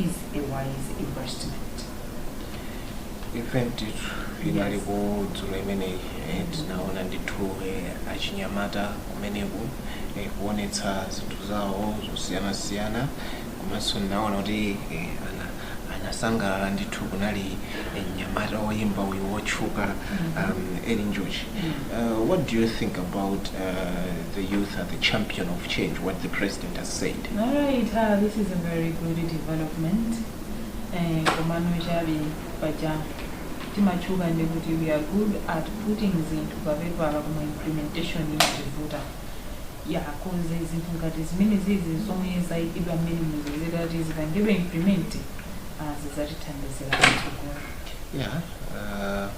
is a wise investment. event inali Yes. kudzulo imeneyi eh, tinaona ndithu eh, achinyamata kumeneku eh, kuonetsa zinthu zawo zosiyanasiyana komanso ndinaona kuti eh, ana anasangalala ndithu kunali eh, mnyamata woyimba uyu wotchuka um, eli njuchi uh, what do you think about uh, the youth are the champion of change what the president has said Alright ah this is a very good development eh, komano chabe paja timatchuka ndi kuti we are good at putting zinthu pa pepala koma implementation imativuta ya because zinthu ngati zimene zizi zomwe zayikidwa mmenemuzi zitati zipangidwe implement ah, zidzatithandizira patsogolo yeah uh,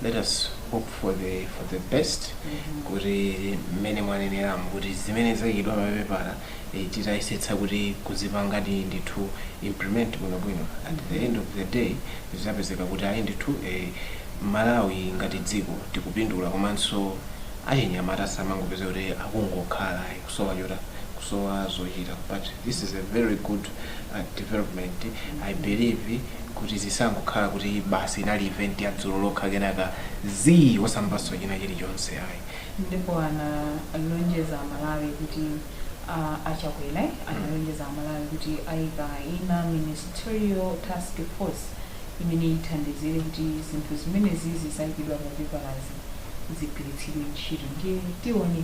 let us hope for the for the best kuti mmene mwaneneramu kuti zimene zayikidwa papepala eh, titayesetsa kuti kuzipanga ndi ndithu implement bwinobwino at the end of the day zizapezeka kuti ayi ndithu eh, malawi ngati dziko tikupindula komanso achinyamata asamangopezeka kuti akungokhala ayi kusowa chota kusowa zochita but this is a very good uh, development i believe kuti zisangokhala kuti basi inali event ya dzulo lokha kenaka zii osamvanso china chilichonse ayi ndipo analonjeza amalawi kuti uh, achakwera analonjeza amalawi kuti ayika ina ministerial task force imene ithandizire kuti zinthu zimene zizi zayikidwa pa pepalazi zigwiritsidwe ntchito ndiye tione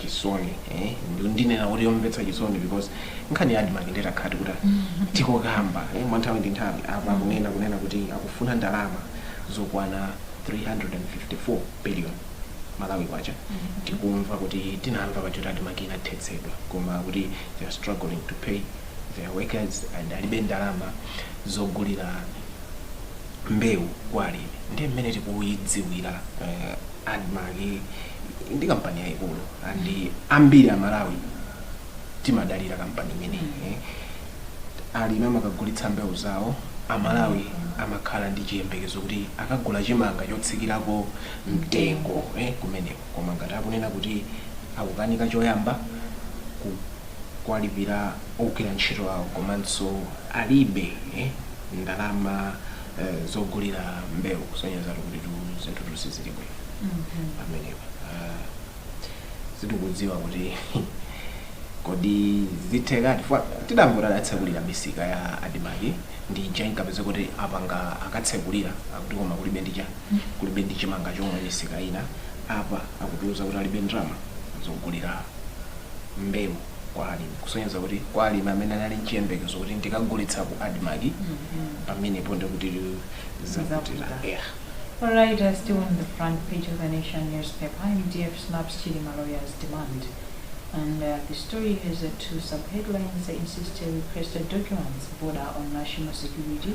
chisoni eh? Ndu- ndinena kuti yomvetsa chisoni because nkhani ya admarc ndiyakuti kuti tikokamba eh? mwa nthawi ndi nthawi apa kunena kunena kuti akufuna ndalama zokwana 354 billion malawi kwacha tikumva kuti tinamva zoti admarc inathetsedwa koma kuti they are struggling to pay their workers and alibe ndalama zogulira mbewu kwa alimi ndiye mmene tikuyidziwira uh, admarc ndi kampani yayikulu and ambiri amalawi timadalira kampani imeneyi eh. alimi amakagulitsa mbewu zawo amalawi amakhala ndi chiyembekezo kuti akagula chimanga chotsikirako mtengo eh, kumeneko koma ngati akunena kuti akukanika choyamba ku- kuwalipira ogwira ntchito awo komanso alibe ndalama zogulira mbewu kusonyezatu kutitu zinthutu sizili bwino pamenepa. Ah, Sitikudziwa kuti kodi zithekadi chifukwa tidangoti adatsekulira misika ya admarc ndiye ija inkapezeka kuti apanga akatsekulira akuti koma kulibe ndi cha kulibe ndi chimanga chomwe misika ina apa akutiuza kuti alibe ndalama zogulira mbewu kwa alimi kusonyeza kuti kwa alimi amene anali nchiyembekezo kuti ndikagulitsa ku admarc pamenepo ndikuti zakutira Zavuta. yeah. All right, uh, still on the front page of the Nation newspaper, MDF snubs Chilima lawyers' demand. And uh, the story has uh, two subheadlines, insist requested documents border on national security,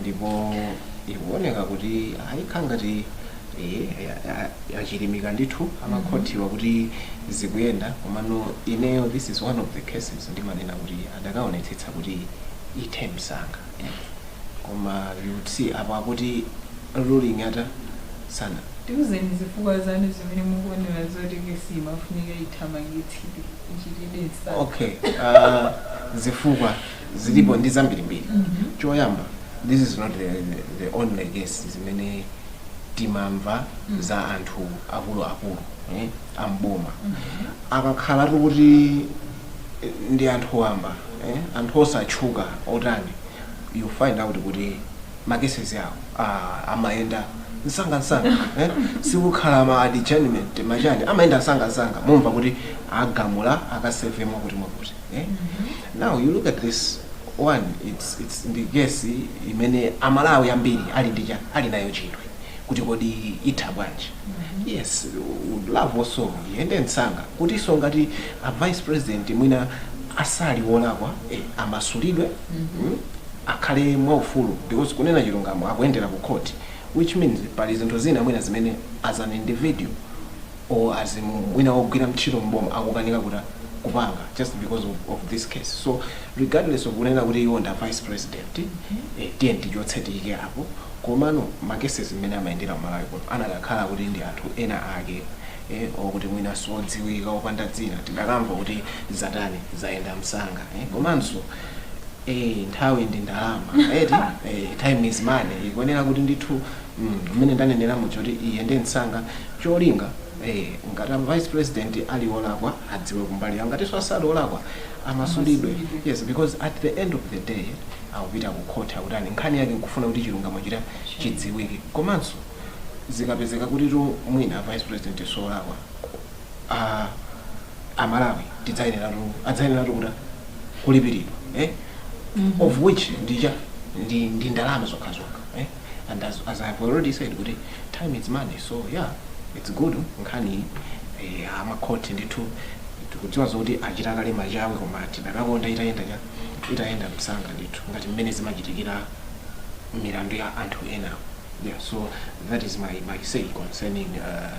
ndipo ikuoneka kuti ayikha ngati achilimika ndithu amakhotiwa kuti zikuyenda komano ineyo this is one of the cases ndimanena kuti adakaonetsetsa kuti ithe msanga koma you would see apa kuti ruling yatha sana tiuzeni zifukwa zanu zimene mukuonera zoti kesi imafunika ithamangitsidwe ichitidwe msanga okay uh, zifukwa zilipo ndi zambirimbiri choyamba this is not the, the, the only case zimene timamva za anthu akuluakulu eh, amboma akakhala tu kuti eh, ndi anthu wamba eh, anthu osatchuka otani you find out kuti makeses awo ah, amayenda msangamsanga eh? sikukhala ma adjournment machani amayenda msangamsanga mumva kuti agamula akaseve mwakuti mwakuti eh? now you look at this one it's, it's ndi kesi imene amalawi ambiri ali ndi cha ali nayo chidwi kuti kodi itha bwanji yes would love also iyende msanga kutinso ngati a vice president mwina asali wolakwa eh, amasulidwe mm, akhale mwaufulu because kunena chilungamo akuyendera ku court which means pali zinthu zina mwina zimene as an individual or as mwina wogwira ntchito m'boma akukanika kuta kupanga just because of of this case so regardless of kunena kuti iwo nda vice president eh tiye tichotse tiyike apo komano ma cases mmene amayendera ku Malawi kuno anadakhala kuti ndi anthu ena ake eh or kuti mwina siodziwika opanda dzina tidakamva kuti zatani zayenda msanga eh komanso eh nthawi ndi ndalama eti eh time is money ikuonera kuti ndithu mmene ndanenera muja kuti iyende msanga cholinga eh, ngati a vice president ali olakwa adziwe kumbali yawo ngatinso asali olakwa amasulidwe yes because at the end of the day akupita ku court akutani nkhani yake nkufuna kuti chilungamo chita chidziwike komanso zikapezeka kuti tu mwina a vice president solakwa ah, amalawi tidzayenera tu adzayenera tu kuta kulipiridwa eh? of which ndija ndi, ndi ndalama zokhazokha eh? and as, as I've already said kuti time is money so yeah it's good nkhani eh, amakhoti ndithu tikudziwa zoti achita kale machawi koma tidakakonda itayenda cha itayenda msanga ndithu ngati mmene zimachitikira milandu ya anthu ena yeah so that is my, my say concerning uh,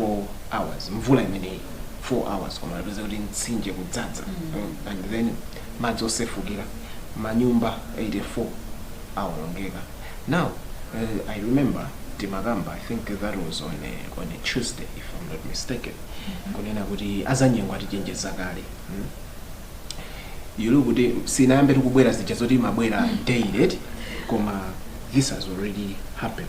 4 hours mvula imeneyi 4 hours koma napeza kuti mtsinje kudzadza mm. and then madzi osefukira manyumba 84 awonongeka now uh, i remember timakamba i think that was on a, on a tuesday if i'm not mistaken kunena kuti azanyengo atichenjeza kale mm? you look kuti sinayambe tikubwera zija zoti imabwera daily eti, koma this has already happened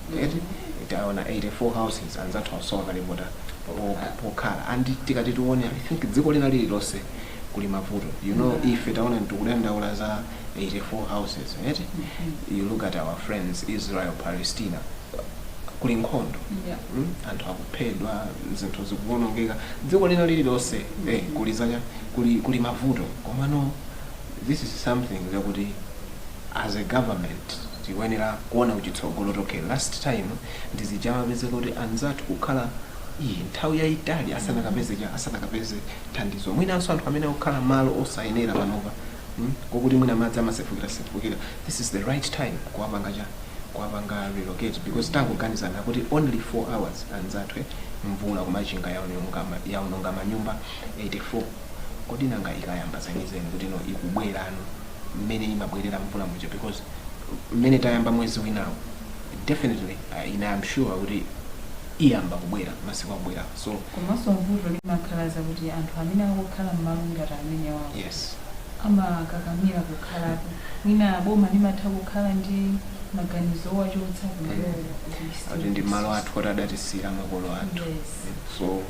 eti taona 84 houses anzathu asowa kale po- pokhala and tikati tione i think dziko lina lililonse kuli mavuto you know ife taona tikudandaula za 84 houses eti you look at our friends israel palestina kuli nkhondo Yeah. Mm, anthu akuphedwa zinthu zikuwonongeka dziko lina lililonse eh, kuli zanya kuli, kuli mavuto komano this is something zakuti as a government tikuyenera kuona kuchitsogolo okay last time ndi zija zimapezeka kuti anzathu kukhala iyi nthawi yayitali asanakapeze cha asanakapeze thandizo mwinanso anthu amene akukhala malo osayenera panopa mm, kokuti mwina madzi amasefukira sefukira this is the right time kuwapanga cha kuwapanga relocate because tangoganizani kuti only 4 hours anzathu eh, mvula ku Machinga yaononga yaononga manyumba 84 kodi nanga ikayamba zenizeni kuti no ikubwerano mmene imabwerera mvula muja because mmene tayamba mwezi winawo definitely uh, ine am sure kuti iyamba kubwera masiku akubwera so komanso mvuto limakhala zakuti anthu amene akukhala mmalo ngati amenewawo yes amakakamira kukhalapo mwina boma limatha kukhala ndi maganizo owachotsa kumalowo kuti ndi malo athu kuti adatisiyira makolo athu yes so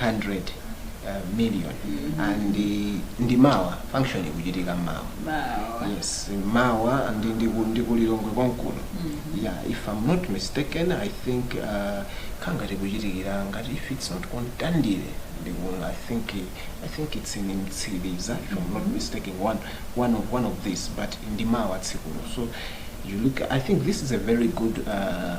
100 uh, million and uh, ndi mawa function ikuchitika mawa Mawa. yes mawa ndi ndiku- ndi ku Lilongwe konkuno yeah if i'm not mistaken i think uh, kaya ngati kuchitikira ngati if it's not ku Mtandire ndiku- i think uh, i think it's in Mtsiliza if i'm not mistaken one one of one of this but ndi mawa tsikulo so you look i think this is a very good uh,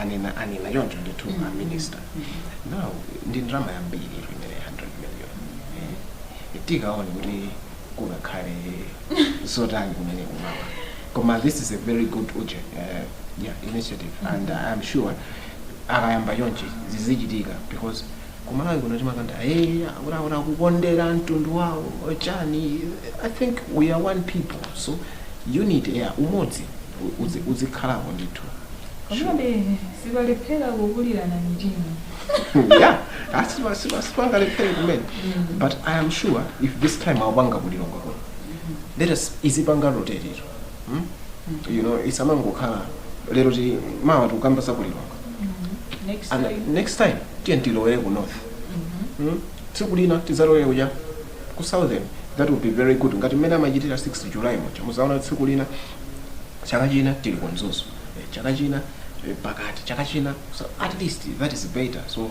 anena anena choncho ndithu a minister now ndi ndalama yambiri imene 100 million Eh, tikaone kuti kukakhala zotani kumene kumawa koma this is a very good urge, eh, yeah, initiative and i'm sure akayamba chonchi zizichitika because ku Malawi kuno timakonda hey, akuti akuti akukondera mtundu wawo wachani i think we are one people so unity ya umodzi u- uzi- uzikhalapo ndithu komabe sipalephera kukulirana mitima yeah asipa- asipa- sipangalephere kumene but i am sure if this time aipanga ku Lilongwe kuno let us izipanga rotate ito you know isamangokhala lero ti mawa tikukamba za kulilonga next time tiyeni tilowere ku north Mm? tsiku lina tizalowere kuja ku southern that would be very good ngati mmene amachitira 6 july muja muzaona tsiku lina chaka china tili ku mzuzu Eh, chaka china eh, pakati chaka china so at least that is better so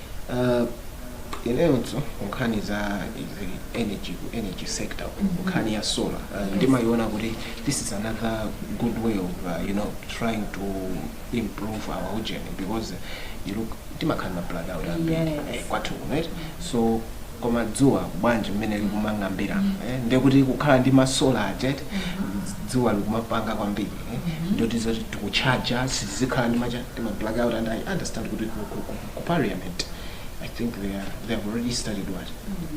Uh, ineyonso nkhani za izi energy ku energy sector nkhani ya solar uh, ndimayiona kuti this is another good way of uh, you know trying to improve our ujeni because you look timakhala ma blackout ambiri Yes. eh, kwathu kuno eti so koma dzuwa bwanji mmene likumang'ambira eh, ndekuti kukhala ndi masola ajet dzuwa likumapanga kwambiri eh, ndi kuti zoti tikuchaja sizikhala ndi macha ndi ma blackout and i understand kuti ku- ku- ku- ku parliament i think they, are, they have already started what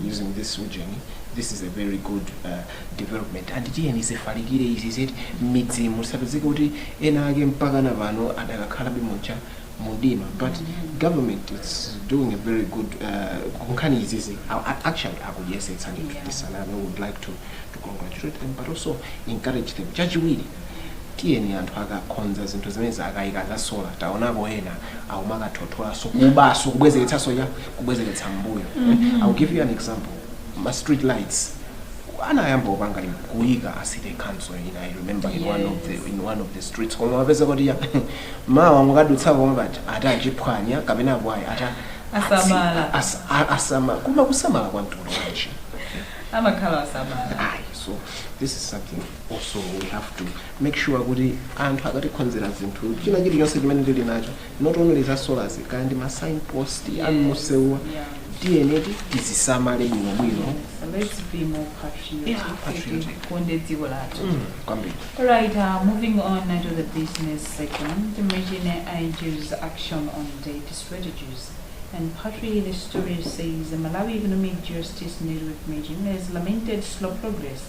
using this ujeni this is a very good uh, development and tiyeni zifalikire izi kuti midzimu tisapezeke kuti ena ake mpaka na pano adakakhalabe muja mumdima but government is doing a very good uh, kunkhani izizi a- a- actually akuyesetsa ndithu Yeah. tisaname would like to, to congratulate them but also encourage them chachiwiri tiyeni anthu akakhonza zinthu zimenezi akayika za sola taonapo ena akumakatothotsanso kubanso kubwezeretsanso ya kubwezeretsa mbuyo I'll give you an example ma street lights anayamba kupanga lim- kuyika a city council ina i remember in one of the in one of the streets koma mupeza kuti ya mawa mukadutsapo koma bati atachiphwanya kapena apo ayi ata Asamala. atsi- as- a- asamala koma kusamala kwa mtundu wanji amakhala asamala ayi so this is something also we have to make sure kuti anthu akatikhonzera zinthu china chilichonse chimene tili nacho not only za solas kaya ndi ma signpost yeah. amumsewu yeah. tiyeni tizisamale bwinobwino tikonde dziko lathu mm, kwambiri right uh, moving on to the business section the MEJN urges action on debt strategies And partly the story says the Malawi Economic Justice Network MEJN has lamented slow progress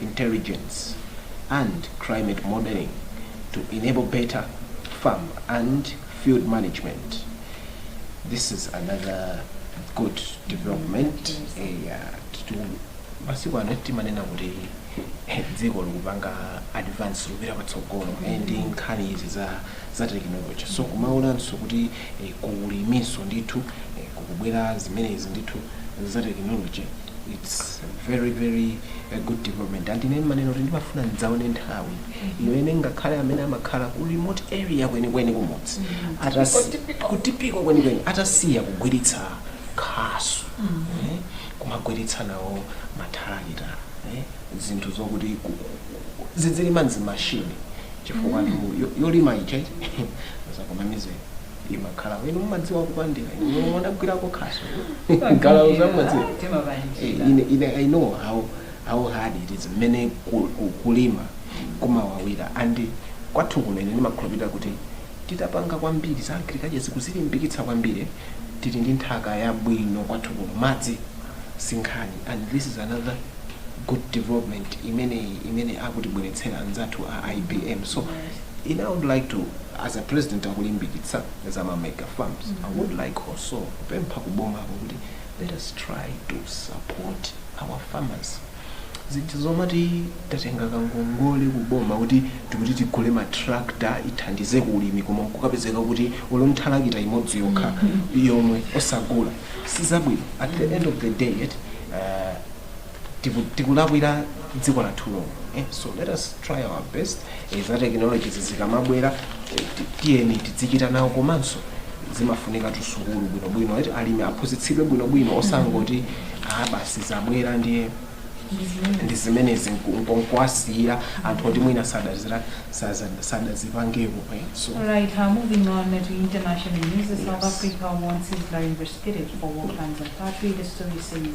intelligence and climate modeling to enable better farm and field management. This is another good development. Eh, masiku ano timanena kuti eh, dziko likupanga advance likupita patsogolo eh, ndi nkhani izi za, za technology so kumaonanso kuti eh, ku uliminso ndithu eh, kukubwera zimenezi ndithu za technology its very very a good development and ine ndimanena kuti ndimafuna ndidzaone nthawi imene ngakhale amene amakhala ku remote area kwenikweni kumudzi atasi- kutipiko kwenikweni atasiya kugwiritsa khasu eh, kumagwiritsa nawo mathalakita eh, zinthu zokuti ku- ku- ku- zidzilima nzimashini chifukwa anthu yo- yolima iche zakomamizeni imakhala inu mumadziwa kupandira inu mudagwirako khasu galawo zamumadziwa Eh, ine ine i know how how hard it is mmene ku- ku- kulima kumawawira and kwathu kuno ine ndimakhulupirira kuti titapanga kwambiri za agriculture nkuzilimbikitsa kwambiri tili ndi nthaka yabwino kwathu kuno madzi sinkhani and this is another good development imene imene akutibweretsera anzathu a ibm so in I would like to as a president akulimbikitsa za ma mega farms mm -hmm. I would like also kupempha kuboma kuti let us try to support our farmers zinthu zomati tatenga kangongole kuboma kuti tikuti tigule matractor ithandize ku ulimi koma nkukapezeka kuti olo thalakita imodzi yokha mm-hmm. yomwe osagula sizabwino at the end of the day yet tiku- tikulakwira dziko lathu lomwe eh, so let us try our best eh, za technology zizikamabwera eh, ti- tiyeni tidzichita nawo komanso zimafunika tusukulu bwinobwino eti alimi aphunzitsidwe bwinobwino osangoti ah basi zabwera ndiye ndi zimenezi nkuwasiyira anthu oti mwina sadazira saza- sadazipangepo eh, so All right, uh, moving on to international news. South Yes. Africa wants Israel investigated for war crimes and battery. The story says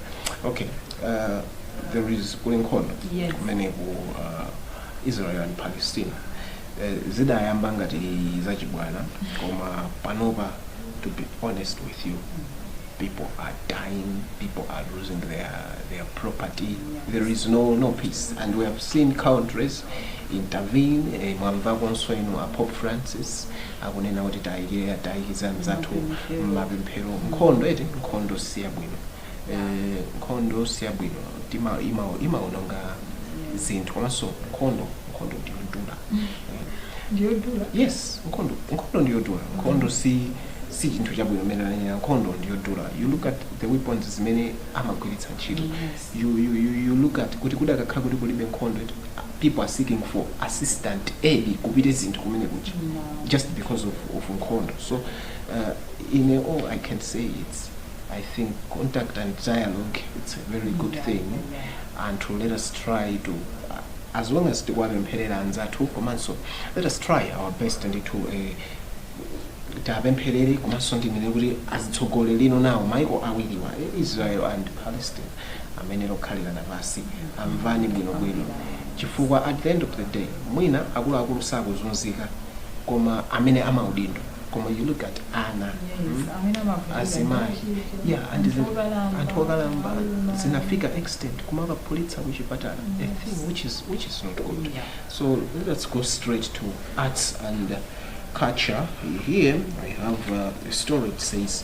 okay uh, there is kuli nkhondo Yes. kumene ku uh, israel and palestina Eh, zidayamba ngati zachibwana koma panopa to be honest with you people are dying people are losing their, their property there is no, no peace and we have seen countries intervene eh, mwamvakonso inu a pope francis akunena kuti tayikire tiwayikize anzathu mmapemphero mmapemphero nkhondo eti nkhondo siyabwino Eh, nkhondo siyabwino tima- ima- imaononga zinthu komanso nkhondo nkhondo ndiyodula ndiyodula yes nkhondo nkhondo ndiyodula nkhondo si si chinthu chabwino mmene ananena nkhondo ndiyodula you look at the weapons zimene amagwiritsa ntchito Yes. you, you, you, you look at kuti kudakakhala kuti kulibe nkhondo eti people are seeking for assistant aid kupite zinthu kumene kuja just because of, of nkhondo so uh, in all i can say it's i think contact and dialogue it's a very good yeah, thing yeah. and to let us try to uh, as long as tikuwapempherera anzathu komanso let us try our best and to uh, tapempherere komanso ndimene kuti azitsogoleri lino nawo maiko awiriwa israel and palestine amene akhalirane pansi amvane bwinobwino chifukwa at the end of the day mwina akuluakulu sakuzunzika koma amene amaudindo koma you look at ana mm, azimayi ya and zinthu anthu okalamba zinafika extent kumakaphulitsa kuchipatala a thing which is, which is not good so let's go straight to arts and culture here i have uh, a story that says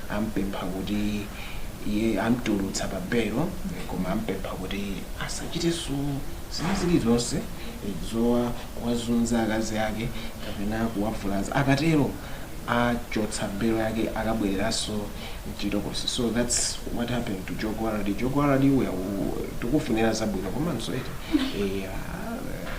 ampempha kuti iye amtulutsa pa belo koma ampempha kuti asachitenso zina zilizonse zowazunza akazi ake kapena kuwavulaza akatero achotsa belo yake akabwereranso mchitokosi so that's what happened to Joe Gwaladi Joe Gwaladi tikukufunira zabwino komanso eti eh,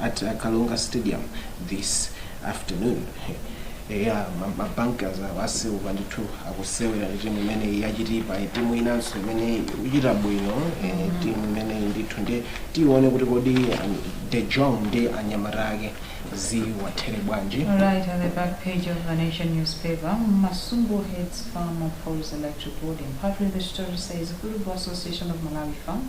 at uh, Karonga Stadium this afternoon. eya mabankers awa a Silver ndithu akusewera timu imene ya Chitipa timu inanso imene ikuchita bwino eh, timu imene ndithu ndi tione kuti kodi um, De Jong ndi anyamata ake ziwathere bwanji Right on the back page of the Nation newspaper, Masumbo heads FAM polls electoral board. And partly the story says Football Association of Malawi FAM